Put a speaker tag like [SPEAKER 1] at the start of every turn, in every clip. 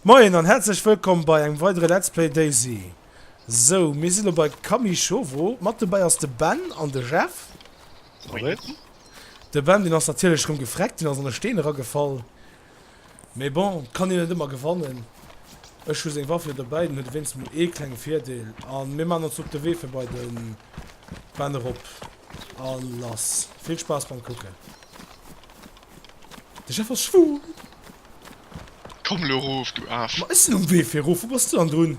[SPEAKER 1] Moien an häerzlech wëllkomm bei engem weidere Let's Play Daisy. Sou, mir sinn elo bei Kamishowo. Mat dobäi ass de Ben an de Jeff. Moien. De Ben, deen ass natierlech rëm gefreckt, deen ass an e Steen eragefall. Mee bon, et kann een net ëmmer gewannen. Ech hu seng Waff jo dobäi, dann huet e wéinstens mol ee klenge Virdeel. A mir maachen ons op de Wee fir bei de Bänn erop a lass. Vill Spaass beim Kucken! De Jeff ass schwul!
[SPEAKER 2] Komm elo erof, du Aaf! Ma ech sinn um Wee fir erof,
[SPEAKER 1] wou bass du dann drun?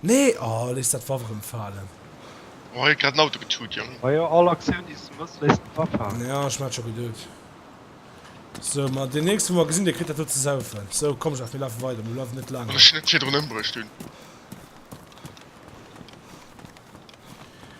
[SPEAKER 1] Nee oh léiss dat Waff erem faalen. Oh huet
[SPEAKER 2] grad en Auto getuut jong. Ma jo all Aktioun déi
[SPEAKER 3] s du mëss léiss de Waff faalen. Jo ech hun dat scho geduet.
[SPEAKER 1] Sou ma deen nächsten wou mer gesin dee kritt dat do ze saufen. Sou komm Jeff mir lafen weider mir bleiwen net laang hei. Well ech en net virdrun ëmbruecht
[SPEAKER 2] hun.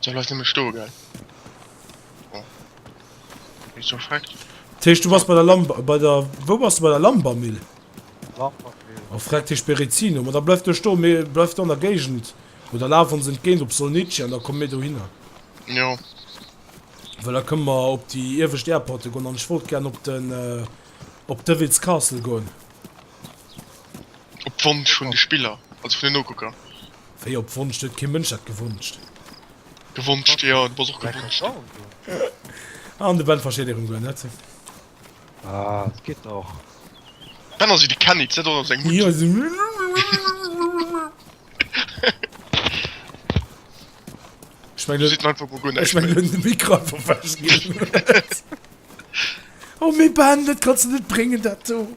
[SPEAKER 2] Soll eis nëmme stoe gell? Oh. Wie so freckt. Dat heescht, du bass bei der
[SPEAKER 1] Lamb... bei der... Wou bass de bei der Lambermill? Lambermill.
[SPEAKER 3] Oh freckt, dat heescht
[SPEAKER 1] Berezino. Ma da bleif du stoen, mir... bleif do an der Géigend. Oder laf ons entgéint op Solnici an da komme mir dohinner. Jo. Well da kënne mer op déi iewescht Airporte goen. An ech wollt gären op den... op Devil's Castle goen.
[SPEAKER 2] Op Wonsch vun de Spiller. Also vun den Nokucker. Wéi op Wonsch?
[SPEAKER 1] Do huet kee Mënsch dat gewonscht. Gewonscht,
[SPEAKER 2] jo, et muss och gewonscht
[SPEAKER 3] ginn. An de
[SPEAKER 1] Ben versteet éiren Goût net.
[SPEAKER 3] Ah, et geet nach. Ben
[SPEAKER 2] ass wéi de Kenny, zitt och op seng Mutti. Jo, sou.
[SPEAKER 1] Ech meng, elo. Ech meng,
[SPEAKER 2] elo hunn de Mikro einfach
[SPEAKER 1] wech ginn. Oh, mee Ben, dat kanns de net bréngen, dat do.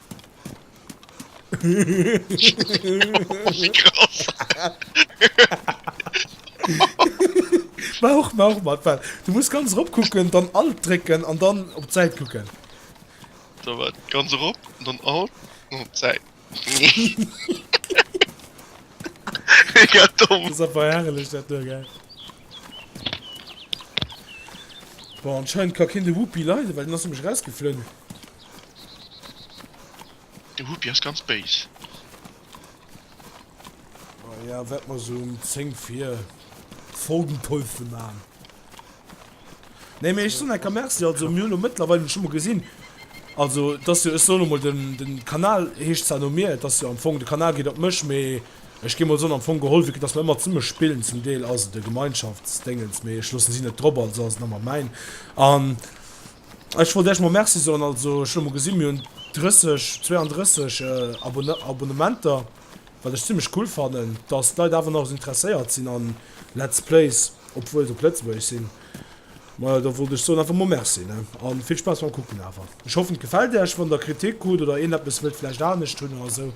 [SPEAKER 1] Mach mach mat wat du muss ganz rop kucken dann alt drécken an dann op d'Säit kucken da
[SPEAKER 2] wat ganz rop dann alt op
[SPEAKER 1] d'Säit bon anscheinend ka keen de whoopi leiden well den ass nämlech rausgeflunn.
[SPEAKER 2] De Whoopi ass ganz béis.
[SPEAKER 1] Bon, ja, wäert mer sou um 10 vir folgend Päuschen maachen. Nee, mee ech soen enker Merci, also mir hunn elo mëttlerweil, hunn ech emol gesinn, also et ass jo, ech soen emol, den, den Kanal heescht zwar no mir, et ass jo am Fong, de Kanal geet op mech, mee ech géing emol soen, am Fong geholl, vu que dass mer ëmmer zesumme spillen, zum Deel ass et e Gemeinschaftsdéngens, mee ech loossen si net drop, also ass et ëmmer mäin an. Ech wollt Äech mol Merci soen. Also ech hu mol gesi mir hunn 30, 32 Abonnementer, wat ech zimlech cool fannen, datt d'Leit awer nach esou interesséiert sinn a Let's Plays, obwuel se op Lëtzebuergesch sinn. Majo da wollt ech soen einfach mol Merci, ne, a vill Spaass beim Kucken awer. Ech hoffen et gefält Äech. Wann der Kritik krut oder een eppes wëllt vläicht anescht hunn oder esou,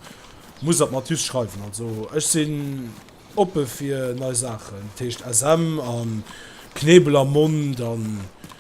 [SPEAKER 1] musst der et mat just schreiwen. Also ech sinn oppe fir nei Saachen, dat heescht SM a Knebel am Mond a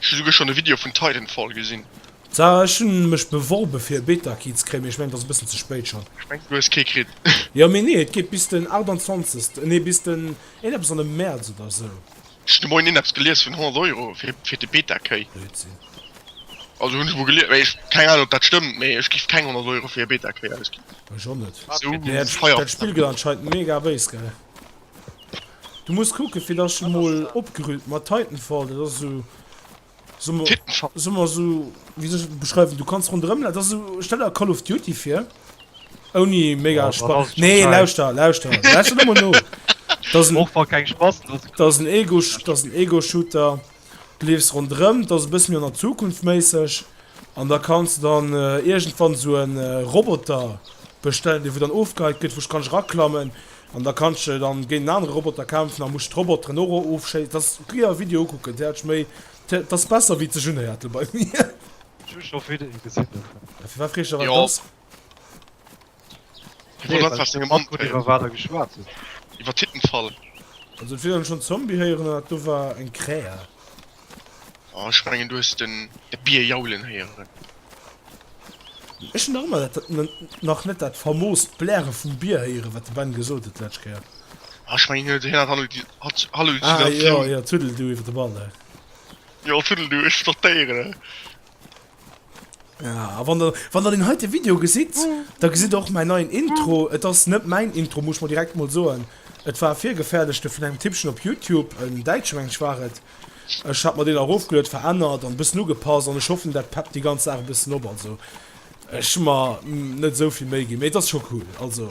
[SPEAKER 1] Ech hu souguer
[SPEAKER 2] schon e Video vun Titanfall gesin. Sarah, ech hun
[SPEAKER 1] mech beworben fir e Beta Key ze kréien, mee ech mengen et ass e bëssen ze spéit schon. Ech mengen du hues kee kritt.
[SPEAKER 2] Jo mee nee et
[SPEAKER 1] geet bis den 28 nee bis den eeneppes an dem März oder sou. Ech hun de Moien eeneppes
[SPEAKER 2] gelies vun 100 Euro fir de Beta Key. Blödsinn.
[SPEAKER 1] Also
[SPEAKER 2] hun ech emol gelies mee keng Ahnung op dat stëmmt mee ech giff keng 100 Euro fir e Beta Key ausginn. Ech och net. Sou
[SPEAKER 1] feier. Dat
[SPEAKER 2] Spill
[SPEAKER 1] gëtt anscheinend mega béis gell. Du muss kucken fir dass ech mol opgerühmt mat Titanfall dat ass sou
[SPEAKER 2] sou mer sou
[SPEAKER 1] wie sech beschreiwen du kannst rondrem dat ass sou stell der Call of Duty fir ouni mega Spaß nee
[SPEAKER 3] lauster lauster dat ass
[SPEAKER 1] en Ego-Shooter. Du leefs ronderëm, dat ass e bësse méi an der Zukunft méisseg an da kanns de dann iergendwann esou e Roboter bestellen, dee wou dann ofgeheit gëtt, wou kanns eraklammen an da kanns de dann géint en anere Roboter kämpfen a muss d'Roboteren och ofschéissen. Et ass, géi awer e Video ukucken, dat ass méi, dat ass besser wéi ze June-Härtel bei mir. Ech hu scho
[SPEAKER 3] Videoe gesinn dovun. Firwat freesch de
[SPEAKER 1] wat et ass?
[SPEAKER 2] Iwwer Land war sengem Mann Iwwer Titanfall. Wat der geschwat
[SPEAKER 3] huet. Iwwer Titanfall.
[SPEAKER 2] Also vill hunn
[SPEAKER 1] schonn Zombie héieren an dat do war eng Krähe.
[SPEAKER 2] Oh ech mengen du hues den de Bier jaulen héieren. Ech hunn
[SPEAKER 1] nach ëmmer dat nach net dat famoost Bläre vum Bier héieren wat de Ben gesot huet d'lescht Kéier. Oh ech mengen hien
[SPEAKER 2] hat Hallo di hat Hallo Ah
[SPEAKER 1] Diddleatioun. jo
[SPEAKER 2] jo Tuddledu iwwer
[SPEAKER 1] de Ball he. Jo
[SPEAKER 2] Tuddledu ech notéieren. Ja,
[SPEAKER 1] a wann der, wann der den heite Video gesitt, da gesitt der och mäin neien Intro. Et ass net mäin Intro, muss ech mol direkt mol soen. Et war e virgefaerdechte vun engem Tippchen op Youtube, en Däitsche meng ech war et. Ech hat mer deen erofgeluet, verännert an e bëssen ugepasst an ech hoffen, dat peppt déi ganz Saach e bëssen op. Also, ech hu mer net esou vill Méi ginn, mee et ass scho cool. Also.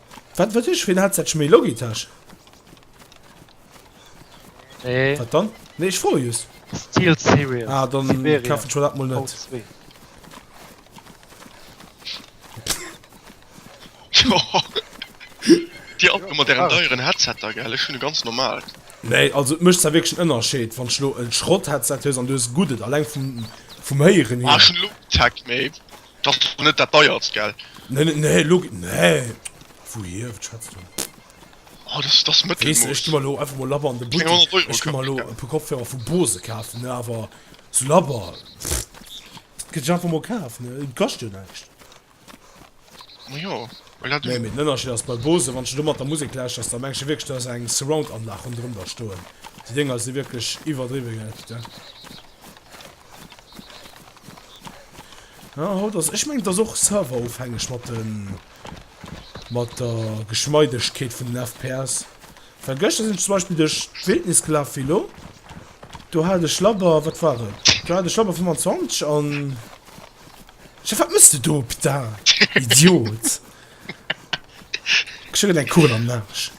[SPEAKER 1] Wat wat ech fir en Headset? Schmi Logitech? Nee.
[SPEAKER 3] Wat dann? Nee, ech
[SPEAKER 1] froe just. Steel Series.
[SPEAKER 3] Ah, dann Siberia. kafen
[SPEAKER 1] ech mir dat mol
[SPEAKER 3] net. V2.
[SPEAKER 2] Joa. Dir alt mat ären deieren Headsetter, gell? Ech hunn e ganz normalt. Nee, also et mécht
[SPEAKER 1] zwar wierklech en Ënnerscheed, wann s de lo e Schrott-Headset hues an du hues e guddet, alleng vum vum Héieren Ah, hier. ech hunn elo kee Tech
[SPEAKER 2] méi. T'ass jo net dat deiertst, gell? Nee, nee, lo,
[SPEAKER 1] nee, wouhier, wat schwätz du? Oh, dat
[SPEAKER 2] ass Mëttelmooss. Weess de, ech gi mer lo
[SPEAKER 1] einfach mol labber
[SPEAKER 2] an de
[SPEAKER 1] Buttek. 300 Euro. Ech gi mer lo e
[SPEAKER 2] puer Kopfhörer
[SPEAKER 1] vu Bose kafen, ne, awer sou labber, pff, kënnt ech einfach mol
[SPEAKER 2] kafen,
[SPEAKER 1] ne, et kascht jo näischt. Ma jo, well
[SPEAKER 2] dat. Nee, mee den Ënnerscheed
[SPEAKER 1] ass, bei
[SPEAKER 2] Bose,
[SPEAKER 1] wann s de do mat der Musek lauschters, da mengs de wierklech, du has eng Surround-Anlag ronderëm der stoen. Déi Dénger si wierklech iwwerdriwwe, gell, putain. Ah, haut ass, ech mengen et ass och serverofhängeg mat de mat der Geschmeidegkeet vun den FPS. Well gëschter sinn ech zum Beispill duerch d'Wildnis gelaf wéi elo. Do hat ech labber, wat war et? Do hat ech labber 25 an. Chef, wat mëss de do, Putain! Idiot! Kriss jo grad eng Kugel am Arsch.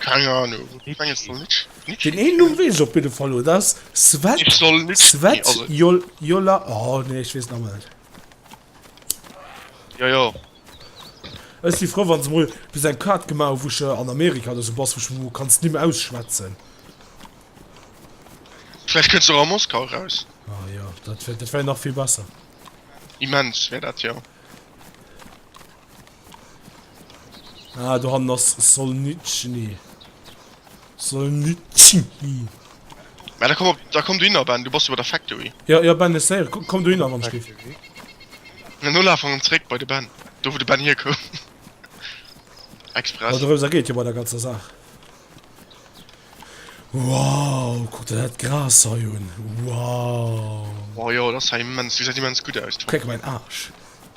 [SPEAKER 1] Keng
[SPEAKER 2] Ahnung, wou de menges soll Nitsch, Nitsch. Den een Numm weess ech
[SPEAKER 1] op jidde Fall, dat ass Svet. Nitsch soll Nitsch. Svet
[SPEAKER 2] Jol,
[SPEAKER 1] Jola,
[SPEAKER 2] oh
[SPEAKER 1] nee, ech weess et awer net. Jo,
[SPEAKER 2] jo.
[SPEAKER 1] Ech si frou wann se mol bis eng Kaart gemaach hu wou ech an Amerika oder sou bass wou ech mol kann d'Nimm ausschwätzen.
[SPEAKER 2] Vläicht kënnt se och a Moskau eraus. Ah jo, dat wär,
[SPEAKER 1] dat wär nach vill besser. Immens
[SPEAKER 2] wär dat jo.
[SPEAKER 1] Ah, do han ass Solnitschny. Solnitschny.
[SPEAKER 2] Ja, da komm op, da komm du hin, Ben, du bass über der Factory. Ja, ja, Ben, ech séier,
[SPEAKER 1] komm, komm du hin, wann ech giff.
[SPEAKER 2] Na, no laf an zréck bei de Ben, do wou de Ben hier koum. Express. Dorëms ergeet jo bei der ganzer
[SPEAKER 1] Saach. Wow, kuck der dat Gras hei un. Wow. Oh jo, dat ass
[SPEAKER 2] hei immens, dat gesäit immens gutt aus. Kuck mäin Aarsch.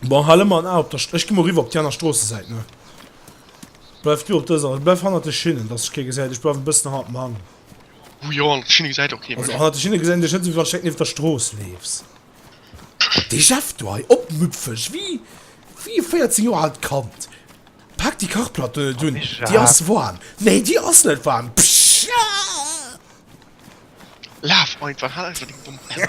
[SPEAKER 1] Bon, hal ëmmer en A op der St-. Ech gi mol eriwwer op déi aner Stroossesäit, ne? Bleif du op dëser. Bleif hannert de Schinnen, dass ech kee gesäit. Ech bleiwen e bëssen hannert dem Hang. Hu jo, hannert
[SPEAKER 2] de Schinne gesäit och kee mech. Also hannert de Schinne gesäit een dech net,
[SPEAKER 1] esou wéi wann ech direkt nieft der Strooss leefs. Wat dee Jeff do hei opmüpfeg wéi wéi e 14 Joer aalt Kand. Paak déi Kachplatt do net un, déi ass waarm. Nee, déi ass net waarm. Psschaah!
[SPEAKER 2] Laf einfach, hal einfach deng domm Penn.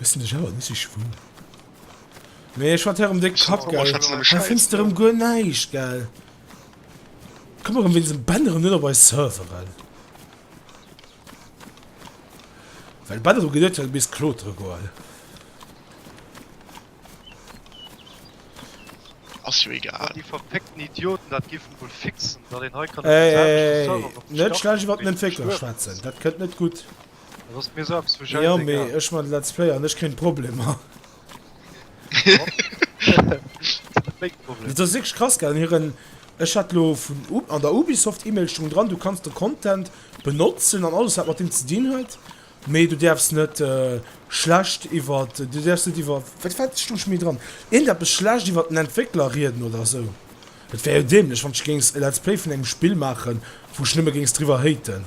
[SPEAKER 1] Wëssen dech awer bis ech wou. Mee ech wat herem déck Kapp gell hei fënns de rem
[SPEAKER 2] guer näischt
[SPEAKER 1] gell. Komm erem wéinst dem Ben erem net op eis Serveren. Well Ben erem geduet huet misst klotere goen.
[SPEAKER 2] Ass jo egal. Déi verfickten Idioten
[SPEAKER 3] dat giffen wuel fixen dat een hei kann op den selwechten Server op den Start klicke.
[SPEAKER 1] Net schlecht iwwert den Entwéckler schwätzen dat kënnt net gutt. Dat ass mir soss
[SPEAKER 3] vu scheiss egal. Jo mee ech man
[SPEAKER 1] let's player an ech kréin Problemer. Dat ass wierklech krass gell an hiren, ech hat lo vun an der Ubisoft Email stung dran du kanns de Content benotzen an alles wat mat deem ze dinn huet, mee du däerfs net schlecht iwwer, du däerfs net iwwer, wat war, stung scho méi dran, iergend eppes schlecht iwwer den Entwéckler rieden oder sou. Et wär jo dämlech wann ech géings e let's play vun engem Spill maachen wou ech nëmme géings driwwer haten.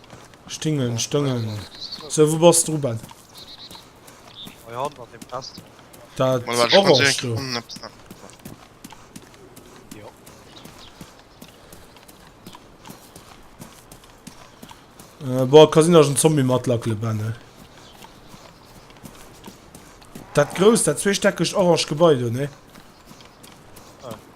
[SPEAKER 1] Stingen, stëngen. So, wou bass du, Ruben? Bei Hand
[SPEAKER 3] an dem Kasten. Dat Mal, warte, ich
[SPEAKER 1] muss orange do.
[SPEAKER 2] irgendwann
[SPEAKER 1] etwas nach- Äh, boah, Casino ass en Zombie mat Lackele Benne. Dat grousst, dat zweestäckegt orange Gebai do, ne?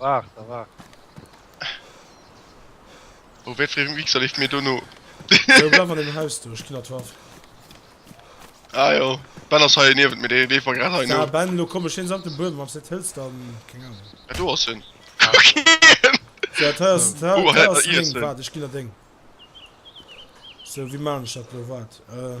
[SPEAKER 3] Waart
[SPEAKER 2] a waart. Oh, wéi fréi um Mixer leeft mir do no. Jo, bleiw an
[SPEAKER 1] deem Haus do, ech ginn der d'Waff.
[SPEAKER 2] Ah jo, Ben ass hei niewent mir, dee leeft mer grad hei no. Ja, Ben, elo komm ech hien
[SPEAKER 1] samt
[SPEAKER 2] dem
[SPEAKER 1] Buedem, wann s de et hëls, dann, keng Ahnung. Ah, do ass hien.
[SPEAKER 2] Kuck hien! Sou,
[SPEAKER 1] hei ass, hei, hei ass se meng, waart,
[SPEAKER 2] ech
[SPEAKER 1] ginn der deng. Sou, wéi man ech dat elo? Waart, äh.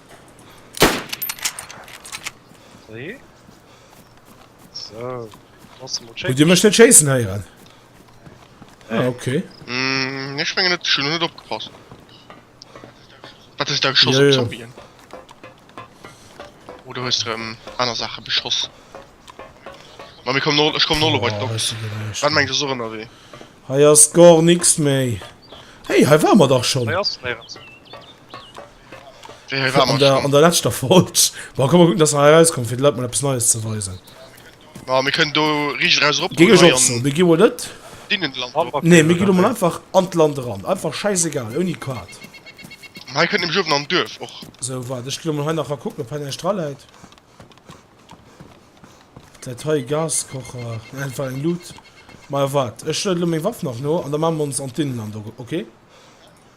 [SPEAKER 3] Nee. So. Huet Dir mech net chasen heieren?
[SPEAKER 1] Nee. Ah, okay. Mm, ich mengen
[SPEAKER 2] net schon net opgepasst. Wat is da geschoss ja, ja. Zombien? Oder hues du ähm, aner Sache beschoss? Ma mir kom no ich komm no oh, bei Doc. Wat
[SPEAKER 1] mengst
[SPEAKER 2] du
[SPEAKER 1] so ënner wee?
[SPEAKER 2] Hei ass gar
[SPEAKER 1] nix méi. Hey, hei war mer dach schon. Hei ass
[SPEAKER 2] An der, an der letzter Folge.
[SPEAKER 1] Boah, komm mal gucken, dass er herauskommt, fir de Leit mal etwas Neues zu weisen. Ja, wir
[SPEAKER 2] können do richtig raus rop. Ging ich auch so. Wir gehen wohl
[SPEAKER 1] nicht. Dienen Land.
[SPEAKER 2] Nee, wir gehen mal
[SPEAKER 1] einfach an das Land ran. Einfach scheißegal, ohne Quad. Hier können
[SPEAKER 2] nämlich oben am Dörf auch. So, warte, ich gehe mal
[SPEAKER 1] hier nachher gucken, ob hier nicht dran liegt. Der Teil Gaskocher. Einfach ein Loot. Mal warte, ich stelle meine Waffe noch noch und dann machen wir uns an Dinnenland, okay?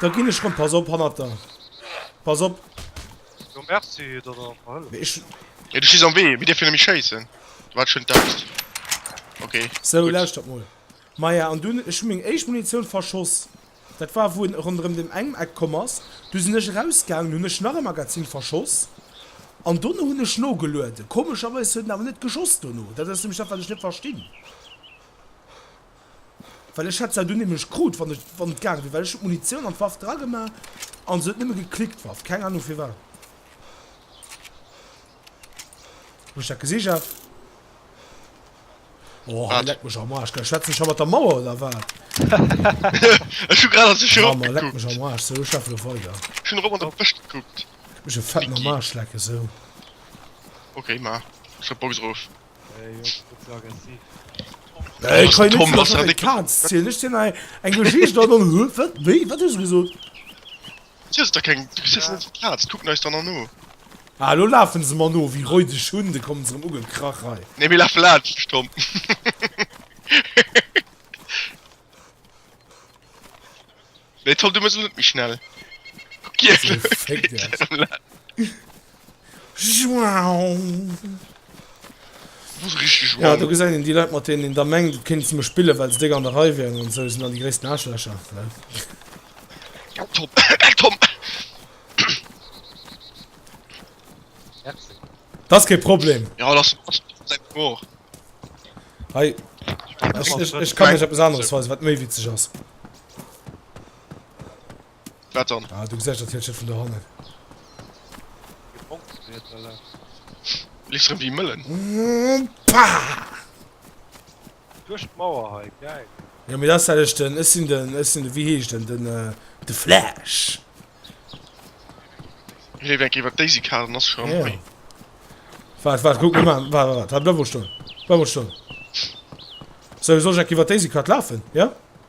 [SPEAKER 1] Da gin ech rem, pass op hannert der, pass op. Jo merci
[SPEAKER 3] dat der mer hëlleft. Mee du
[SPEAKER 1] stees am Wee,
[SPEAKER 2] mir dierfen nämlech schéissen. Du waart schonn d'Axt. Ok. Sou lauschtert
[SPEAKER 1] mol. Maja an dunn, ech hu meng éischt Munitioun verschoss, dat war wou en ronderëm dem engem Eck komm ass, du sinn ech erausgaangen, hunn ech nach e Magazin verschoss an dono hunn ech nogelueden. Komescherweis huet en awer net geschoss dono, dat ass nämlech dat wat ech net verstinn. Well ech hätt se dunn nämlech krut wann ech wann et gaange wier, well ech hun d'Munitioun an d'Waff dra gemaach an se huet nëmme geklickt d'Waff, keng Ahnung firwat ech dat gesicht hat. Oh hei leck mech am Arsch,
[SPEAKER 2] schwätzen
[SPEAKER 1] ech hei mat der Mauer oder wat?
[SPEAKER 2] Ech hun grad an sech erop gekuckt. Leck mech am Arsch, sou ech
[SPEAKER 1] schaffe lo weider. Ech hun erop an der Brëscht
[SPEAKER 2] gekuckt. Mech e fetten am
[SPEAKER 1] Arsch lecken sou.
[SPEAKER 2] Ok maach ech d'Box erof.
[SPEAKER 3] Ech
[SPEAKER 1] kann net was an de Kaz
[SPEAKER 2] ziel Ech sinn ei
[SPEAKER 1] eng Geschicht dat an hu wat wéi wat hues gesot? Sies
[SPEAKER 2] der keng du sies net Kaz kuck neis dann an no. Ah lo lafen
[SPEAKER 1] se mer no wéi räudeg Hunn de kommen se rem ugekrach hei. Nee mir lafe laanscht
[SPEAKER 2] de Stomp. Nee toll du muss net méi schnell Ja du gesäit een déi Leit mat deenen
[SPEAKER 1] een da mengt et kéint ze me spillen well se déck an der Rei wieren an esou sinn dann déi gréissten Aarschlächer well
[SPEAKER 2] Dat
[SPEAKER 3] ass
[SPEAKER 1] kee Problem Hei ech kann mech eppes aneres weisen wat méi witzeg ass.
[SPEAKER 2] Wat dann? Ah, du gesäis dat Hütchen
[SPEAKER 1] vun do hannen.
[SPEAKER 3] Lies
[SPEAKER 2] rem wéi Mëllen.
[SPEAKER 3] Duerch d'Mauer hei, geil. Ja, mir das alles
[SPEAKER 1] den, es sind den, es sind, wie heescht den, den, äh, de Flash.
[SPEAKER 2] Leef eng iwwer Daisy Kar, nass schon. Ja.
[SPEAKER 1] Wart, wart, guck mal, wart, wart, wart, bleib wo stehen. Bleib wo stehen. Soll ich so Jack iwwer Daisy Kar laufen, ja?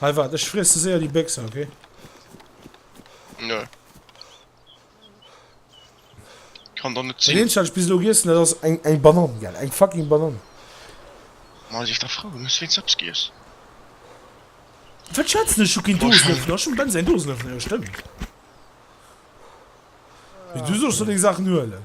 [SPEAKER 1] Hey waat, ech friesse séier déi Béchse, ok?
[SPEAKER 2] Nö. Kann der net sinn. Eenzecht bis elo giessen dat
[SPEAKER 1] ass eng eng Banann gell eng fucking Banann.
[SPEAKER 2] Ma sief der frou hues wéins eps giess.
[SPEAKER 1] Wat schwätzen ech hu keen Dosenöffner ech hun bens en Dosenöffner jo stëmmt. Mee du sollst do deng Saachen huelen.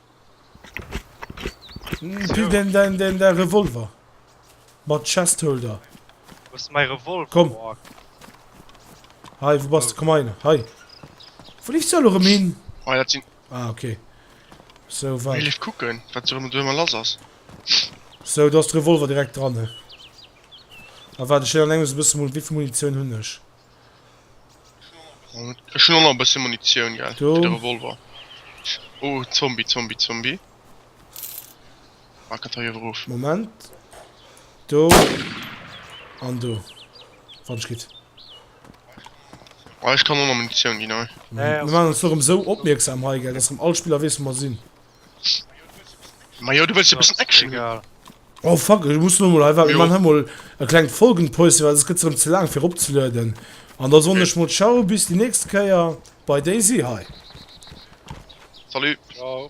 [SPEAKER 1] Pille den, den, den, den Revolver. Mat Chestholder. Wo ist mein
[SPEAKER 3] Revolver? Komm.
[SPEAKER 1] Hi, wo bist du? Oh. Komm rein. Hi. Wo liefst du alle rum hin? Oh, das sind...
[SPEAKER 2] Ah, okay.
[SPEAKER 1] So, warte. Ich lief gucken,
[SPEAKER 2] was so immer los ist. So,
[SPEAKER 1] du hast den Revolver direkt dran. Aber warte, ich will an einem so ein bisschen mal... Wie viel Munition habe ich?
[SPEAKER 2] Ech hun och nach e bësschen Munitioun, gell, fir de Revolver. Oh, Zombie, Zombie, Zombie.
[SPEAKER 1] Maak et hei
[SPEAKER 2] ewer of. Moment. Do.
[SPEAKER 1] An do. Wat ass geschitt?
[SPEAKER 2] Ah, ech kann och nach Munitioun ginn, hei. Mir maachen ons do erëm
[SPEAKER 3] esou
[SPEAKER 1] opmierksam hei, gell, dass erëm all Spiller weess, wou mer sinn.
[SPEAKER 2] Ma jo, du wëlls jo bëssen Action hunn. Egal. Oh
[SPEAKER 3] fuck, ech
[SPEAKER 1] muss lo mol einfach, mir Jo. machen emol e
[SPEAKER 2] klengt
[SPEAKER 1] Folgenpäuschen, well sos gëtt se erëm ze laang fir eropzelueden. An da soen ech mol ciao bis déi nächst Kéier bei Daisy hei. Salut. Ciao.